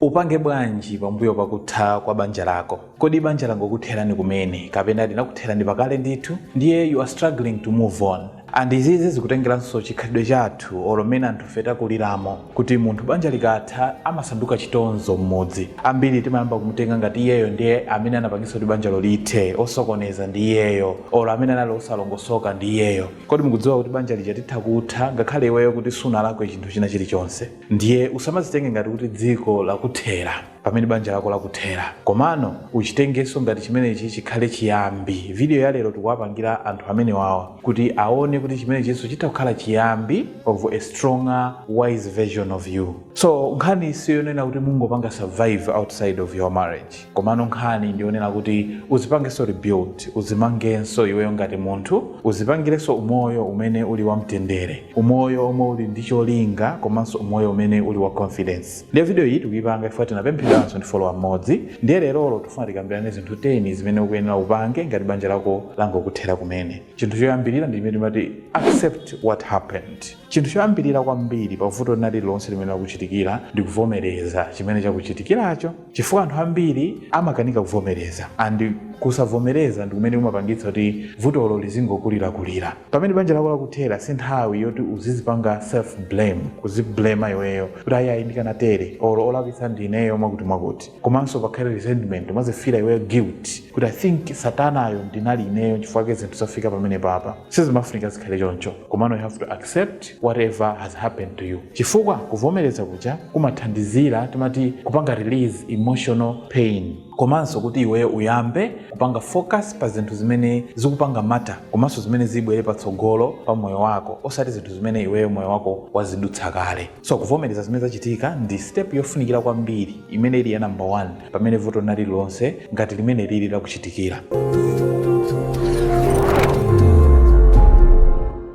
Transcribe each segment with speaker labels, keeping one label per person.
Speaker 1: Upange bwanji pambuyo pa kutha kwa banja lako? Kodi banja langokutherani kumene kapena linakutherani pakale ndithu ndiye you are struggling to move on? And izi zizi zikutengelanso chikhalidwe chathu olo mmene anthufe takuliramo kuti munthu banja likatha amasanduka chitonzo mmudzi. Ambiri timayamba kumutenga ngati iyeyo ndiye amene anapangitsa kuti banjalo lithe, osokoneza ndi iyeyo olo amene anali osalongosoka ndi iyeyo. Kodi mukudziwa kuti banja lija litha kutha ngakhale iweyo kuti sunalakwe chinthu china chilichonse? ndiye usamazitenge ngati kuti dziko lakuthera pamene banja lako lakuthera komano uchitengenso ngati chimenechi chikhale chiyambi video ya lero tikuwapangira anthu amene wawa kuti aone kuti chimenechinso chitha kukhala chiyambi of a stronger wise version of you so nkhani siyonena kuti mungopanga survive outside of your marriage komano nkhani ndionena kuti uzipangenso rebuild uzimangenso iweyo ngati munthu uzipangirenso umoyo umene uli wa mtendere umoyo omwe uli ndi cholinga komanso umoyo umene uli wa confidence ndiye video iyi tikuyipanga chifukwa tinapemphedwanso ndi follower mmodzi ndiye lerolo tifuna tikambirane zinthu 10 zimene ukuyenera upange ngati banja lako langokuthera kumene chinthu choyambirira ndi chimene timati accept what happened chinthu choyambirira kwambiri pa vuto lina lililonse limene lakuchitikira ndi kuvomereza chimene chakuchitikiracho chifukwa anthu ambiri amakanika kuvomereza and kusavomereza ndi kumene kumapangitsa kuti vutolo lizingokulirakulira pamene banja lako lakuthera si nthawi yoti uzizipanga self blame kuziblema iweyo kuti ayayi ndikanatere or olakwitsa ndineyo mwakuti mwakuti komanso pakhale resentment umazifila iweyo guilt kuti i think satanayo ndinali ineyo chifukwa chake zinthu zafika pamene papa sizimafunika zikhale choncho komano you have to accept whatever has happened to you chifukwa kuvomereza kuja kumathandizira timati kupanga release emotional pain komanso kuti iweyo uyambe kupanga focus pa zinthu zimene zikupanga matter komanso zimene zibwere patsogolo pa moyo wako osati zinthu zimene iweyo moyo wako wazidutsa kale so kuvomereza zimene zachitika ndi step yofunikira kwambiri imene ili ya namba 1 pamene vuto lina lililonse ngati limene lili lakuchitikira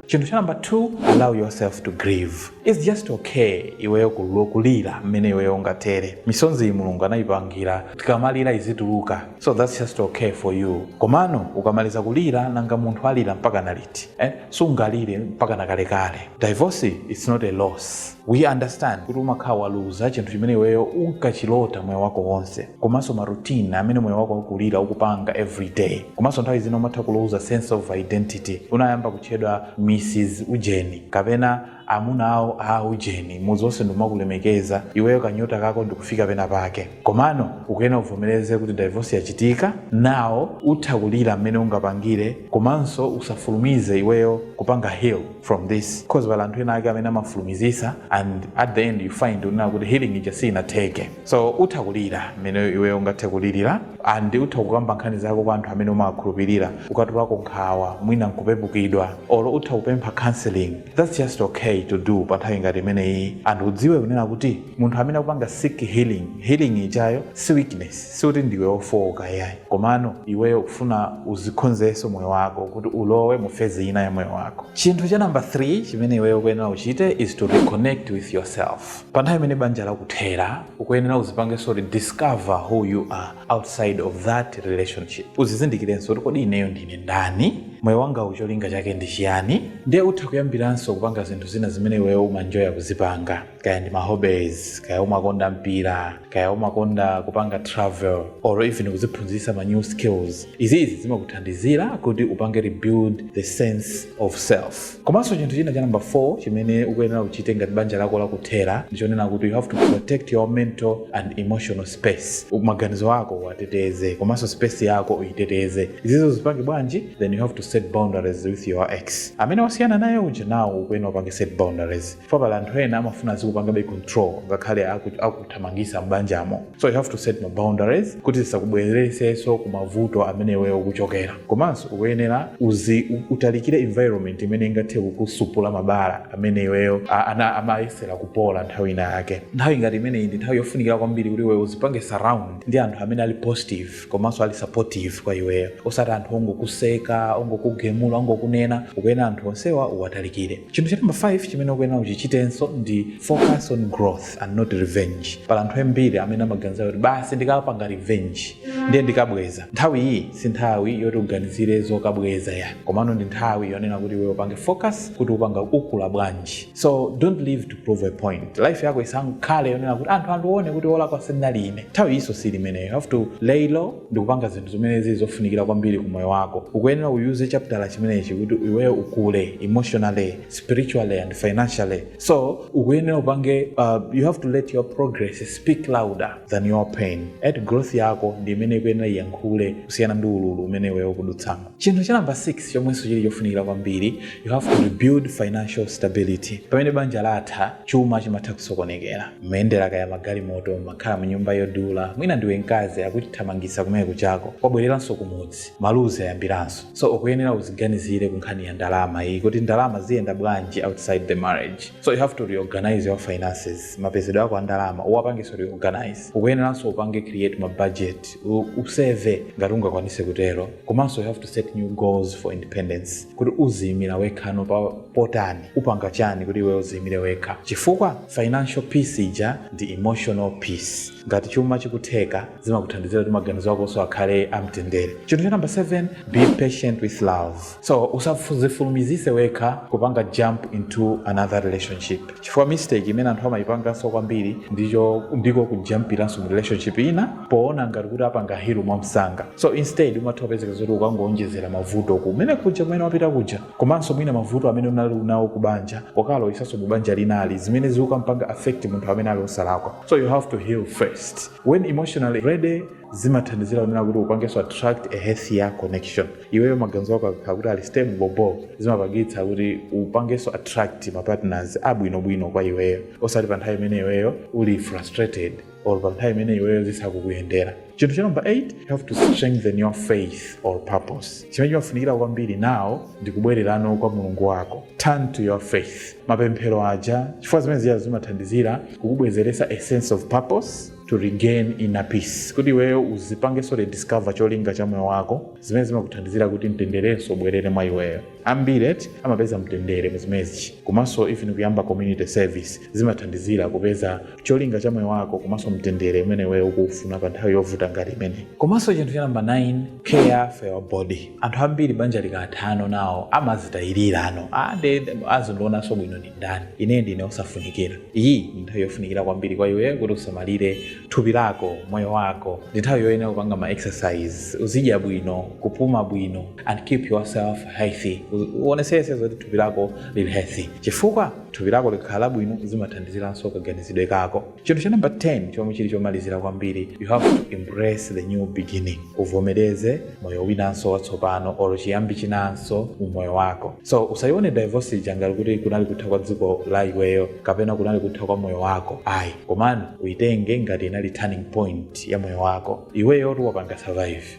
Speaker 1: chinthu cha namba 2 allow yourself to grieve its just okay iweyo kulu- kulira mmene iweyo ungatere misonzi iyi mulungu anayipangira tikamalira izituluka so thats just okay for you komano ukamaliza kulira nanga munthu alira mpaka na liti eh? sungalire mpaka na kalekale divorce its not a loss we understand kuti umakhala waluza chinthu chimene iweyo unkachilota moyo wako wonse komanso maroutine amene moyo wako wakulira ukupanga every day komanso nthawi zina umatha kuluza sense of identity unayamba kutchedwa mrs ujeni kapena amuna awo a ujeni mudzi wonse nkumakulemekeza iweyo kanyota kako ndikufika pena pake komano ukuyenera uvomereze kuti divorce yachitika now utha kulira mmene ungapangire komanso usafulumize iweyo kupanga heal from this because pali anthu ena ake amene amafulumizisa and at the end you find unena kuti healing ija sinatheke so utha kulira mmene iwe ungathe kulirira ndi utha kukamba nkhani zako kwa anthu amene umawakhulupirira ukatulako nkhawa mwina nkupepukidwa or utha kupempha counseling that's just okay to do pa nthawi ngati imeneyi ndi udziwe kunena kuti munthu amene akupanga seek healing healing ijayo si weakness si kuti ndiwe ofooka yayi komano iweyo ukufuna uzikhonzenso moyo wako kuti ulowe mu fezi ina ya moyo wako chinthu cha namba 3 chimene iweyo ukuyenera uchite is to reconnect with yourself pa nthawi imene banja lakuthera ukuyenera uzipangenso rediscover who you are outside of that relationship uzizindikirenso kuti kodi ineyo ndine ndani moyo wangawu cholinga chake ndi chiyani ndiye utha kuyambiranso kupanga zinthu zina zimene iweyo umaenjoya kuzipanga kaya ndi ma hobbies kaya umakonda mpira kaya umakonda kupanga travel or even kuziphunzisa ma new skills izizi zimakuthandizira kuti upange rebuild the sense of self komanso chinthu china cha number 4 chimene ukuyenera uchite ngati banja lako lakuthera ndichonena kuti you have to protect your mental and emotional space maganizo ako uwateteze komanso space yako uyiteteze izizo uzipange bwanji then you have to set boundaries with your ex amene wasiyana naye uja nawo ukuyenera upange set boundaries chifukwa pali anthu ena amafuna azikupangabe control ngakhale aku- akuthamangisa m'banjamo so you have to set ma boundaries kuti zisakubwereresenso ku mavuto amene iweyo ukuchokera komanso ukuyenera uzi u- utalikire environment imene ingathe kukusupula mabala amene iweyo a- a- umayesera kupola nthawi ina yake nthawi ngati imeneyi ndi nthawi yofunikira kwambiri kuti iweyo uzipange surround ndi anthu amene ali positive komanso ali supportive kwa iweyo osati anthu ongokuseka ongokugemula ongokunena ukuyenera anthu onsewa uwatalikire chinthu cha namba 5 chimene ukuyenera uchichitenso ndi focus on growth and not revenge pali anthu ambiri amene amaganiza kuti basi ndikapanga revenge ndiye ndikabweza nthawi iyi si nthawi yoti uganizire zokabweza yayi komano ndi nthawi yonena kuti iweyo upange focus kuti upanga ukula bwanji so don't live to prove a point life yako isankhale yonena kuti anthu andione kuti olakwa sindinali ine nthawi iyi siili imeneyo you have to lay low ndi kupanga zinthu zimene zili zofunikira kwambiri ku moyo wako ukuyenera uyuze chaptala chimenechi kuti iweyo ukule emotionally spiritually and financially so ukuyenera upange uh, you have to let your progress speak louder than your pain eti growth yako ndi imene ikuyenera iyankhule kusiyana ndi ululu umene iweyo ukudutsamo Chinthu cha number 6 chomwenso chili chofunikira kwambiri, you have to rebuild financial stability. Pamene banja latha, chuma chimatha kusokonekera. Mmayendera kaya magalimoto, mmakhala mnyumba yodula, mwina ndiwe mkazi akuchithamangitsa ku nyumba kwako, wabwereranso kumudzi, maluzi ayambiranso. So ukuyenera uziganizire ku nkhani ya ndalama iyi kuti ndalama ziyenda bwanji outside the marriage. So you have to reorganize your finances. Mapezedwe ako a ndalama uwapangenso reorganize. Ukuyeneranso upange create ma budget u- useyive ngati ungakwanise kutero komanso you have to set new goals for independence kuti uziyimira wekhano pano utani upanga chani kuti iwe uziyimire wekha chifukwa financial peace ija ndi emotional peace ngati chuma chikutheka zimakuthandizira kuti maganizo akonso akhale amtendere chinthu cha namba 7 be patient with love so usazifulumizise wekha kupanga jump into another relationship chifukwa mistake imene anthu amayipanganso kwambiri ndicho ndiko kujampiranso mu relationship ina poona ngati kuti apanga heal mwamsanga so instead umatha kupezeka zoti ukangowonjezera mavuto kumene kuja kumene wapita kuja komanso mwina mavuto amene unali unawo ku banja ukalowesanso mu banja linali zimene zikukampanga affect munthu amene ali osalakwa so you have to heal first when emotionally ready zimathandizira kunena kuti upangenso attract a healthier connection iweyo maganizo ako akakhala kuti ali stable bobo zimapangitsa kuti upangenso attract ma partners abwinobwino kwa iweyo osati pa nthawi imene iweyo uli frustrated or pa nthawi imene iweyo zisakukuyendera chinthu cha number 8 you have to strengthen your faith or purpose chimene chimafunikira kwambiri nawo ndi kubwererano kwa mulungu wako turn to your faith mapemphero aja chifukwa zimene zija zimathandizira kukubwezeretsa a sense of purpose to regain inner peace kuti iweyo uzipangenso rediscover cholinga cha moyo wako zimene zimakuthandizira kuti mtenderenso ubwerere mwa iweyo ambiri eti amapeza mtendere muzimenezichi komanso even kuyamba community service zimathandizira kupeza cholinga cha moyo wako komanso mtendere umene iweyo ukufuna pa nthawi yovuta ngati imeneyi komanso chinthu cha namba 9 care for your body anthu ambiri banja likathano nawo amazitayirira amvekere andionanso bwino ndi ndani ine ndine osafunikira iyi ndi nthawi yofunikira kwambiri kwa iwe kuti usamalire thupi lako moyo wako ndi nthawi yoyenera kupanga ma exercise uzidya bwino kupuma bwino and keep yourself healthy U- uonesese zoti thupi lako lili healthy chifukwa thupi lako likakhala labwino zimathandiziranso kaganizidwe kako Chinthu cha number 10 chomwe chili chomalizira kwambiri, you have to embrace the new beginning. Uvomereze moyo winanso watsopano or chiyambi chinanso mu moyo wako. So usayione divorce ija ngati kuti kunali kutha kwa dziko la iweyo kapena kunali kutha kwa moyo wako. Ayi, komano uyitenge ngati inali turning point ya moyo wako. Iweyotu wapanga survive.